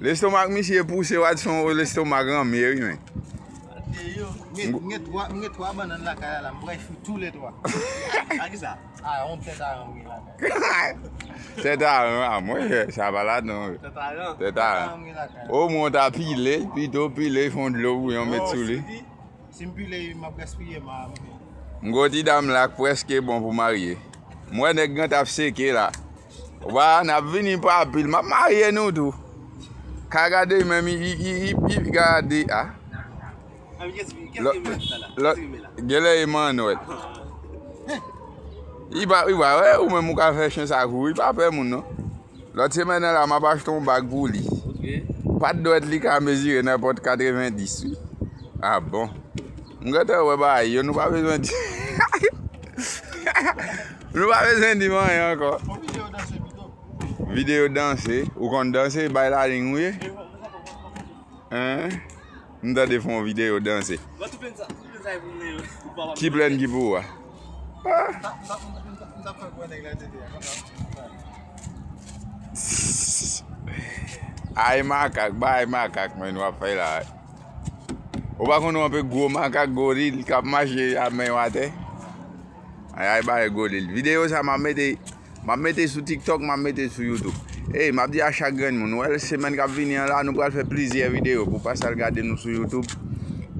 Lestomak misye pouse wadson o lestomak ranmye wi men. M gen 3 banann lakay la la m pral fri tou le 3. A kisa? A yon tèt aran m gen lakay la. Tèt aran a mwen jè sa pa la non. Tèt aran? Tèt aran m gen lakay la. O mwen w ta pile pito pile fon dlo bouyon met sou li. O si m pile m ap gaspiye m a m gen. M gen yon ti dam la k preske bon pou marye. M wè nèg nan tap seke la. Wa nap vini pa pil map marye nou tou Ka gade men mi iiipi gade a Genlè e manwèl Iwa wè ou menm ou ka fè chen sa kouri pa pè moun non Lòt semèn nan la map achte yon bag pou li Pat dwèt li ka mezire nenpòt 90 wi A bon M gentan wè bagay yo nou pa bezwen di Hahaha Nou pa bezwen dim anyen ankò. Fon video danse pito. Video danse. Ou konn danse bay la ling ou ye? Hein? M tande fon video danse. Mwen tou plen sa, tou plen sa e pou mwen yo. Ki plen ki pou ou a? M tap fè pou nèg la te di. Ay makak, bay makak men wap fè la. Ou pa konn ou anpe gwo makak goril kap mache a men yo atè? Ay ay bagay gwo lil. Video sa map mete Map mete sou tiktok map mete sou youtube Ey map di a chak grenn moun ou wèl semèn kap vini an la nou pral fè plizyè video pou pas al gade nou sou youtube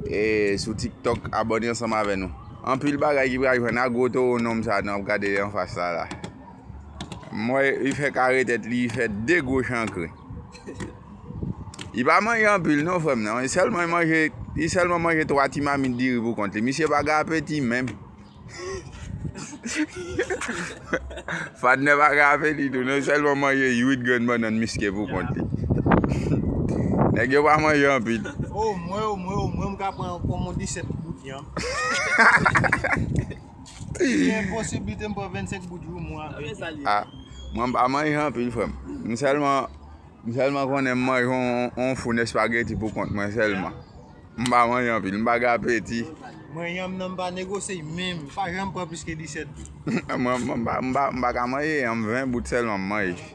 e sou tiktok abòne ansanm avè nou anpil bagay ki pral jwenn agro toro nonm sa nou ap gade anfas la la. Mwen li fè kare tèt li, li fè 2 gwo chankre. Li pa manje anpil non frè m nan, li sèlman manje, li sèlman manje 3 ti mamit diri pou kont li. Misye pa gen apeti menm. Fadnè pa gen apeti tou non, li sèlman manje 8 grenn bannann miske pou kont li. Nèg yo pa manje anpil. O mwen, o mwen, o mwen, m ka pran yon pòmon 17 goud yan. Si gen posiblite m pran 25 goud jou mwen avèk li. A, mwen pa manje anpil frè m. M sèlman, m sèlman konnen m manje yon foun espageti pou kont mwen sèlman. M pa manje anpil, m pa gen apeti. Mwen yanm nan m pa negosye l menm. M pa janm pran plis ke 17 goud. Mwen, mwen pa, mwen pa ka manje yanm 20 goud sèlman m manje.